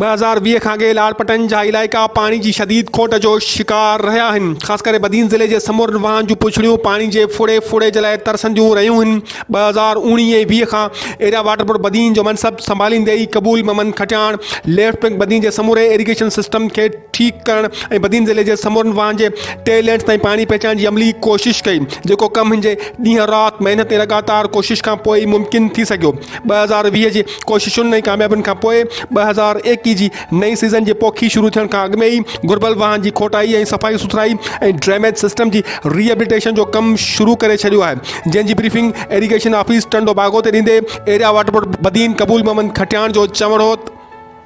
ٻه هزار ويهه کان اڳي لاڙپٽن جا علائقا پاڻي جي شديد کوٽ جو شڪار رهيا آهن خاص ڪري بدين ضلعي جي سمورن واهن جون پڇڙيون پاڻي جي ڦڙي ڦڙي جي لاء ترسنديون رهيون آهن ٻه هزار اوڻيهه ۽ ويهه کان ايريا واٽر بورڊ بدين جو منصب سنڀاليندي ئي قبول محمد کٽياڻ ليفٽ بئنڪ بدين جي سموري ايريگيشن سسٽم کي ٺيڪ ڪرڻ ۽ بدين ضلعي جي سمورن واهن جي ٽي لينز تائين پاڻي پهچائڻ جي عملي ڪوشش ڪئي، جيڪو ڪم هن جي ڏينهن رات محنت ۽ لڳاتار ڪوشش کان پوء ئي ممڪن ٿي سگهيو. ٻه هزار ويهه جي ڪوششن ۽ ڪاميابين کان پوء ٻه هزار ايڪيهه جي نئين سيزن جي پوکي شروع ٿيڻ کان اڳ ۾ ئي گهربل واهن جي کوٽائي ۽ صفائي سٿرائي ۽ ڊريميج سسٽم جي ري ايبليٽيشن جو ڪم شروع ڪري ڇڏيو آهي، جنهن جي briefing irrigation office Tando Bago تي ڏيندي area water board Badin Qabool Muhammad Khatian جو چوڻ هو ته.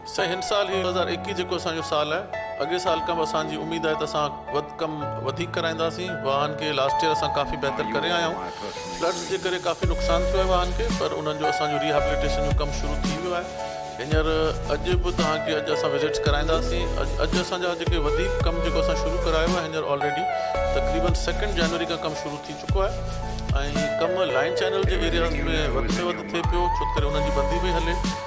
سائين هن سال هي ٻه هزار ايڪيهه جيڪو اسان جو سال آهي اڳئي سال کان به اسان جي اميد آهي ته اسان وڌ ڪم وڌيڪ ڪرائينداسين واهن کي لاسٽ ايئر اسان ڪافي بهتر ڪري آيا آهيون فلڊز جي ڪري ڪافي نقصان ٿيو آهي واهن کي پر انهن جو اسان جو ريهابليٽيشن جو ڪم شروع ٿي ويو آهي هينئر اڄ به توهان کي اڄ اسان وزٽس ڪرائينداسين اڄ اسان جا جيڪي وڌيڪ ڪم جيڪو اسان شروع ڪرايو آهي هينئر آلريڊي تقريبن سيڪنڊ جنوري کان ڪم شروع ٿي چڪو آهي ۽ ڪم لائن چينل جي ايرياز ۾ وڌ ۾ وڌ ٿئي پيو ڇو ڪري انهن جي بندي پئي هلي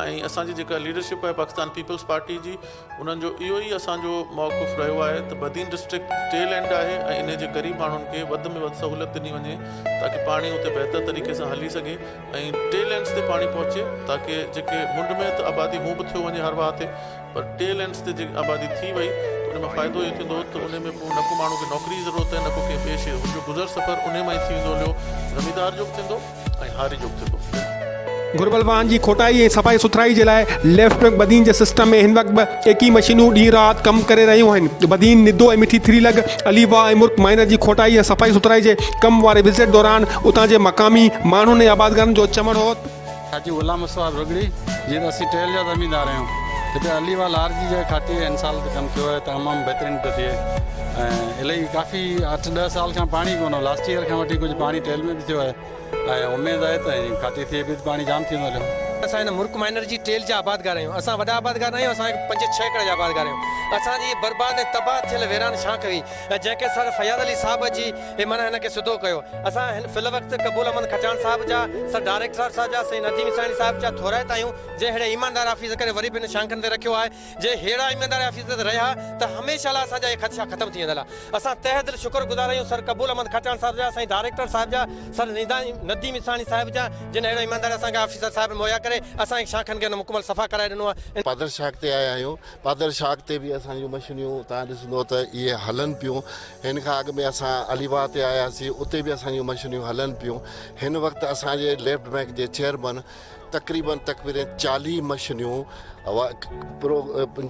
۽ اسان جي جيڪا ليڊرشپ آهي پاڪستان پيپلز پارٽي جي انهن جو اهو ئي اسان جو موقف رهيو آهي ته بدين ڊسٽرڪٽ ٽيل اينڊ آهي ۽ انهي جي قريب ماڻهن کي وڌ ۾ وڌ سهولت ڏني وڃي تاڪه پاڻي اتي بهتر طريقي سان هلي سگهي ۽ ٽيل اينڊز تي پاڻي پهچي تاڪه جيڪي منڊ ۾ ته آبادي هون به ٿيو وڃي هر واهه تي پر ٽيل اينڊز تي جي آبادي ٿي وئي انهي مان فائدو اهو ٿيندو ته انهي ۾ پوء نه ڪو ماڻهو کي نوڪري جي ضرورت آهي نه ڪو ڪنهن ٻئي شيء هن جو گذر سفر انهي مان ئي ٿي ويندو هليو زميندار جو به ٿيندو ۽ هاري جو به ٿي ٿو. گهربل واهن جي کوٽائي ۽ صفائي سٿرائي جي لاء ليفٽ ٽرنڪ بدين جي سسٽم ۾ هن وقت به ايڪي مشينون ڏينهن رات ڪم ڪري رهيون آهن. بدين، ندو ۽ مٺي ٿري لڳ علي واهه ۽ مرڪ مائنر جي کوٽائي ۽ صفائي سٿرائي جي ڪم واري وزٽ دوران اتان جي مقامي ماڻهن ۽ آبادگارن جو چوڻ هو ته. حاجي غلام مصباح رڳڙي جي ته اسين ٽيل جا زميندار آهيون. هتي علي واهه لار جي جيڪي کاٽي هن سال ته ڪم ٿيو آهي تمام بهترين ٿو ٿئي ۽ الائي ڪافي اٺ ڏهه سال کان پاڻي ڪونه هو لاسٽ ايئر کان وٺي ڪجهه پاڻي ٽيل ۾ به. ٿيو آهي ۽ اميد آهي ته هن کاتي ٿئي به ته پاڻي جام ٿيندو هليو. اسان هن مرڪ مائنر جي ٽيل جا آبادگار آهيون. اسان وڏا آبادگار ناهيون، اسان هڪ پنج ڇهه ايڪڙ جا آبادگار آهيون. اسان جي هيء برباد ۽ تباهه ٿيل ويران شاخ هئي ۽ جنهن کي سر فياض علي صاحب اچي هي معنيٰ هن کي سڌو ڪيو. اسان هن في الوقت قبول احمد کچان صاحب جا، سر ڊائريڪٽر صاحب جا، سيد نديم اساڻي صاحب جا ٿورائتا آهيون، جنهن ههڙي ايماندار آفيسر کي وري به هن شانخن تي رکيو آهي. جي ههڙا ايماندار آفيسر اتي رهيا ته هميشه لاء اسان جا اهي خدشا ختم ٿي ويندا هئا. اسان تهه دل شڪر گذار آهيون سر قبول احمد کهٽياڻ صاحب جا، سائين ڊائريڪٽر صاحب جا، سر نديم اسراڻي صاحب جا، جن اهڙو ايماندار اسان کي آفيسر صاحب مهيا ڪري اسان کي ڇهن کن گهنٽن ۾ مڪمل صفا ڪرائي ڏنو آهي. ان. پادر شاخ تي آيا آهيون. پادر شاخ تي به اسان جون مشينيون توهان ڏسندو ته اهي هلن پيون. هن کان اڳ ۾ اسان علي واهه تي آياسين اتي به اسان جون مشينيون هلن پيون. هن وقت اسان جي ليفٽ بئنڪ جي چيئرمن تقريبن تقريبن چاليهه مشنيون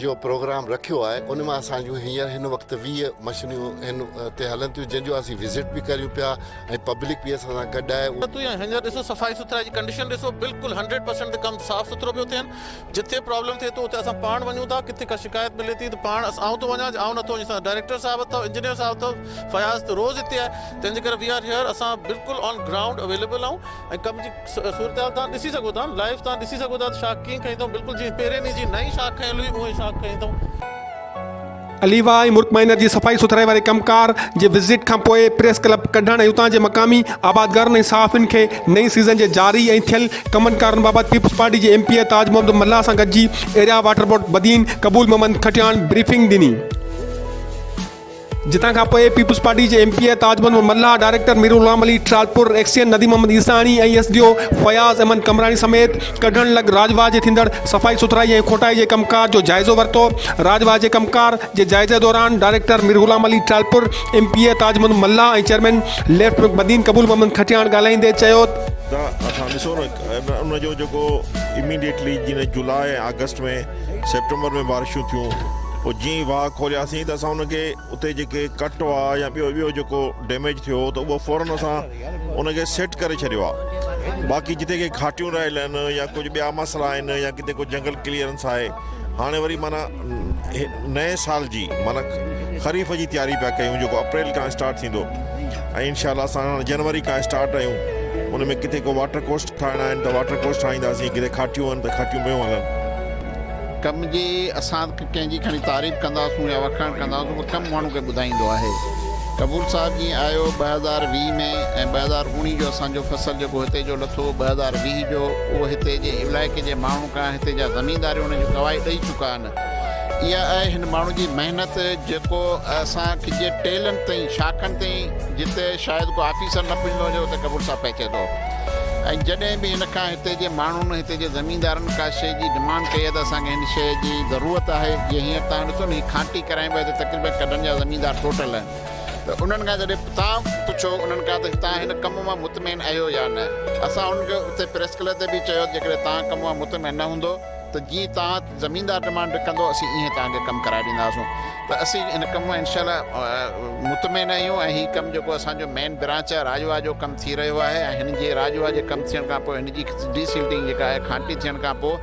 جو پروگرام رکيو آهي ان مان اسان جون هينئر هن وقت ويهه مشنيون هن تي هلن ٿيون جن جو اسين وزٽ به ڪريون پيا ۽ پبلڪ به اسان سان گڏ آهي اهو تون هينئر ڏسو صفائي سٿرائي جي ڪنڊيشن ڏسو بلڪل هنڊريڊ پرسنٽ تي ڪم صاف سٿرو پيو ٿين جتي پرابلم ٿئي ٿو اتي اسان پاڻ وڃون ٿا ڪٿي ڪا شڪايت ملي ٿي ته پاڻ اسان آئون ٿو وڃان جي آئون نٿو وڃي ڊائريڪٽر صاحب اٿو انجنيئر صاحب اٿو فياض ته روز هتي آهي تنهنجي ڪري وي آر هيئر اسان بلڪل آن گرائونڊ اويليبل آهون ۽ ڪم جي صورتحال توهان ڏسي سگهو ٿا لائيو توهان ڏسي سگهو ٿا ته شاخ ڪيئن کنئي اٿئون بلڪل جيئن پهرين ڏينهن جي نئين شاخ کنيل هئي اونهي شاخ کنئي اٿئون. عليوا ۽ مرڪ مائنر جي صفائي سٿرائي واري ڪم ڪار جي وزٽ کان پوء پريس ڪلب ڪڍڻ ۽ اتان جي مقامي آبادگارن ۽ صحافين کي نئين سيزن جي جاري ۽ ٿيل ڪمن ڪارن بابت پيپلز پارٽي جي M P A Taj Muhammad Mallah سان گڏجي area water board Badin Qabool Muhammad Khatian briefing ڏني. جتان کان پوء پيپلز پارٽي جي M P A Taj Muhammad Mallah, director Mir Ghulam Ali Talpur, XEN Nadeem Muhammad Isani ۽ S D O Fayyaz Ahmed Qambrani سميت ڪڍڻ لڳ راڄ واهه جي ٿيندڙ صفائي سٿرائي ۽ کوٽائي جي ڪم ڪار جو جائزو ورتو. راڄ واهه جي ڪم ڪار جي جائزي دوران director Mir Ghulam Ali Talpur, M P A Taj Muhammad Mallah ۽ chairman left Badin Qabool Muhammad Khatian ڳالهائيندي چيو. ته اسان ڏسو نه ان جو جيڪو اميڊيٽلي جنهن جولاء ۽ آگسٽ ۾. سيپٽمبر ۾ بارشون ٿيون پوء جيئن ئي واهه کولياسين ته اسان ان کي اتي جيڪي ڪٽ هئا يا ٻيو ٻيو جيڪو ڊيميج ٿيو هو ته اهو فورن اسان ان کي سيٽ ڪري ڇڏيو آهي باقي جتي ڪي گهاٽيون رهيل آهن يا ڪجهه ٻيا مسئلا آهن يا ڪٿي ڪو جنگل ڪليئرنس آهي هاڻي وري معنيٰ نئين سال جي معنيٰ خريف جي تياري پيا ڪيون جيڪو اپريل کان اسٽارٽ ٿيندو ۽ انشاء الله اسان جنوري کان اسٽارٽ آهيون ان ۾ ڪٿي ڪو واٽر ڪوسٽ ٺاهڻا آهن ته واٽر ڪورس ٺاهينداسين ڪٿي کاٽيون آهن ته کاٽيون پيون هلن. ڪم جي اسان ڪنهن جي کڻي تعريف ڪنداسون يا وکاڻ ڪنداسون پر ڪم ماڻهو کي ٻڌائيندو آهي قبول صاحب جي آيو ٻه هزار ويهه ۾ ۽ ٻه هزار اوڻيهه جو اسان جو فصل جيڪو هتي جو لٿو ٻه هزار ويهه جو اهو هتي جي علائقي جي ماڻهن کان هتي جا زمينداريون ان جون گواهي ڏئي چڪا آهن. اها آهي هن ماڻهو جي محنت جيڪو اسان کجي ٽيلن تائين شاخن تائين جتي شايد ڪو آفيسر نه پڄندو هجي اتي ڪپور صاحب پهچي ٿو ۽ جڏهن به هن کان هتي جي ماڻهن هتي جي زميندارن ڪا شيء جي ڊمانڊ ڪئي آهي ته اسان کي هن شيء جي ضرورت آهي جي هينئر تان ڏسو نه هي کانٽي ڪرايم ويل هتي تقريبن ڪڍن جا زميندار ٽوٽل آهن ته انهن کان جڏهن تان پڇو انهن کان ته تان هن ڪم مان مطمئن اهيو يا نه اسان انهن کي اتي پريس ڪلب تي به چيو جيڪڏهن تان ڪم مان مطمئن نه هوندو ته جي تان زميندار ڊمانڊ ڪندو اسين ايئن توهان کي ڪم ڪرائي ڏينداسون ته اسين هن ڪم مان انشاء الله مطمئن آهيون ۽ هي ڪم جيڪو اسان جو مين برانچ آهي راجواهه جو ڪم ٿي رهيو آهي ۽ هن جي راجواهه جي ڪم ٿيڻ کان پوء هن جي ڊي سلٽنگ جيڪا آهي کانٽي ٿيڻ کان پوء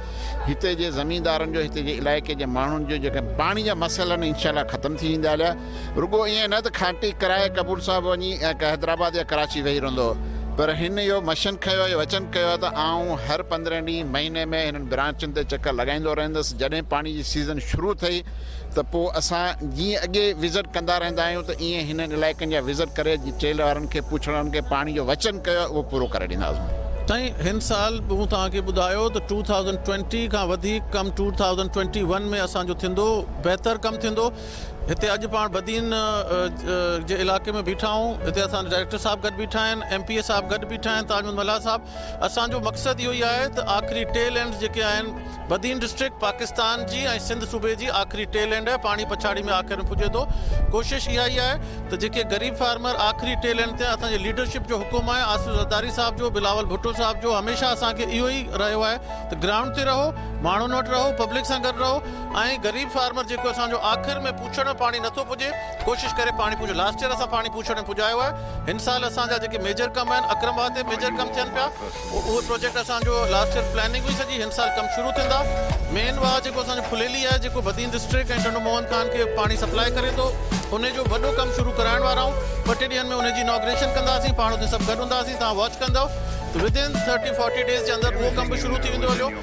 هتي جي زميندارن جو هتي جي علائقي جي ماڻهن جو جيڪا پاڻي جا مسئلا آهن انشاء الله ختم ٿي ويندا رڳو ائين نه ته کانٽي ڪرائي قبول صاحب وڃي ۽ ڪا حيدرآباد يا ڪراچي ويهي رهندو هو، پر هن اهو مشن کنيو ۽ وچن ڪيو هو ته آئون هر پندرهن ڏينهن، مهيني ۾ هنن برانچن تي چڪر لڳائيندو رهندس، جڏهن پاڻي جي سيزن شروع ٿئي ته پوء اسان جيئن اڳي وزٽ ڪندا رهندا آهيون ته ائين هنن علائقن جا وزٽ ڪري جي ٽيل وارن کي پڇڻ هن کي پاڻي جو وچن ڪيو آهي اهو پورو ڪري ڏينداسون. سائين هن سال به مون توهان کي ٻڌايو ته ٽو ٿائوزنڊ ٽوئنٽي کان وڌيڪ ڪم ٽو ٿائوزنڊ ٽوئنٽي ون ۾ اسان جو ٿيندو بهتر ڪم ٿيندو هتي اڄ پاڻ بدين جي علائقي ۾ بيٺا آهيون هتي اسان جا ڊائريڪٽر صاحب گڏ بيٺا آهن ايم پي اي صاحب گڏ بيٺا آهن تاج محمد ملاح صاحب اسان جو مقصد اهو ئي آهي ته آخري ٽيل اينڊ جيڪي آهن بدين ڊسٽرڪٽ پاڪستان جي ۽ سنڌ صوبي جي آخري ٽيل اينڊ آهي پاڻي پڇاڙي ۾ آخر ۾ پڄي ٿو ڪوشش اها ئي آهي ته جيڪي غريب فارمر آخري ٽيل اينڊ تي اسان جي ليڊرشپ جو حڪم آهي آصف زرداري صاحب جو بلاول ڀٽو صاحب جو هميشه اسان کي اهو ئي رهيو آهي ته گرائونڊ تي رهو ماڻهن وٽ رهو پبلڪ سان گڏ رهو ۽ غريب فارمر جيڪو اسان جو آخر ۾ پوڇڙ ۾ پاڻي نٿو پڄي ڪوشش ڪري پاڻي پوڇڙ لاسٽ يير اسان پاڻي پوڇڙ ۾ پڄايو آهي هن سال اسان جا جيڪي ميجر ڪم آهن اڪرم واهه تي ميجر ڪم ٿين پيا اهو پروجيڪٽ اسان جو لاسٽ يير پلاننگ هئي سڄي هن سال ڪم شروع ٿيندا مين واهه جيڪو اسان جو ڦليلي آهي جيڪو بدين ڊسٽرڪٽ ۽ ٽنڊو موهن خان کي پاڻي سپلاء ڪري ٿو ان جو وڏو ڪم شروع ڪرائڻ وارا آهيون ٻه ٽي ڏينهن ۾ ان جي اناگريشن ڪنداسين پاڻ اتي سڀ گڏ هونداسين توهان واچ ڪندو ودين ٿرٽي فورٽي ڊيز جي اندر اهو ڪم به شروع ٿي ويندو هليو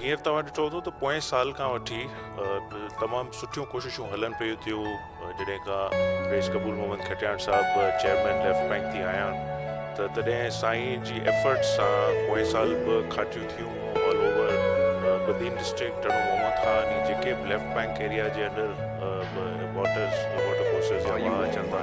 هينئر توهان ڏٺو هوندو ته پوئين سال کان وٺي تمام سٺيون ڪوششون هلن پيون ٿيون جڏهن کان رئيس قبول محمد کٽياڻ صاحب چيئرمين ليفٽ بئنڪ ٿي آيا آهن ته تڏهن سائين جي ايفرٽس سان پوئين سال ٻه کاٽيون ٿيون all over Badin district Tando Muhammad Khan ۽ جيڪي به ليفٽ بئنڪ ايريا جي انڊر واٽرس واٽر ڪورسز يا واهه اچن ٿا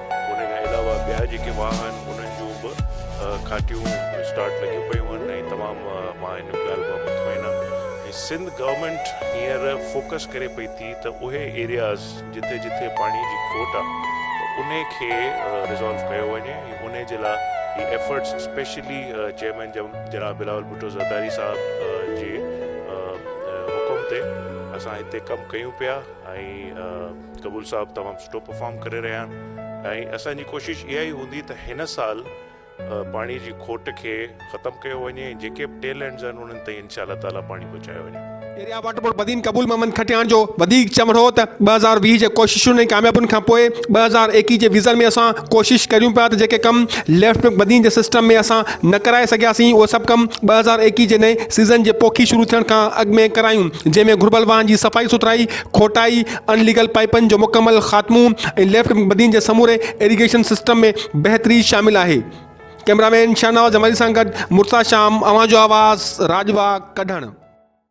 ان کان علاوه ٻيا جيڪي واهه آهن انهن جون به کاٽيون اسٽارٽ لڳيون پيون آهن ۽ تمام مان ان ڳالهه مان مطمئن آهيان ۽ سنڌ گورنمينٽ هينئر فوڪس ڪري پئي ٿي ته اهي ايرياز جتي جتي پاڻي جي کوٽ آهي ته انهي کي ريزالو ڪيو وڃي ۽ انهي جي لاء هي ايفرٽس اسپيشلي چيئرمين جناب بلاول ڀٽو زرداري صاحب جي حڪم تي اسان هتي ڪم ڪيون پيا ۽ قبول صاحب تمام سٺو پرفارم ڪري رهيا آهن ۽ اسان جي ڪوشش اها ئي هوندي ته هن سال پاڻي جي کوٽ کي ختم ڪيو وڃي ۽ جيڪي به ٽيل اينڊز آهن انهن تائين انشاء الله تعالي پاڻي پهچايو وڃي. Area water board Badin Qabool Muhammad Khatian جو وڌيڪ چوڻ هو ته ٻه هزار ويهه جي ڪوششن ۽ ڪاميابين کان پوء ٻه هزار ايڪيهه جي ويزن ۾ اسان ڪوشش ڪريون پيا ته جيڪي ڪم ليفٽ بئنڪ بدين جي سسٽم ۾ اسان نه ڪرائي سگهياسين اهي سڀ ڪم ٻه هزار ايڪيهه جي نئين سيزن جي پوکي شروع ٿيڻ کان اڳ ۾ ڪرايون جنهن ۾ گهربل واهن جي صفائي سٿرائي کوٽائي، ان ليگل پائيپن جو مڪمل خاتمو ۽ ليفٽ بدين جي سموري ايريگيشن سسٽم ۾ بهتري شامل آهي. ڪئميرا مين شاهنواز جمالي سان گڏ مرتضيٰ شام اوهان جو آواز راڄ باغ ڪڍڻ.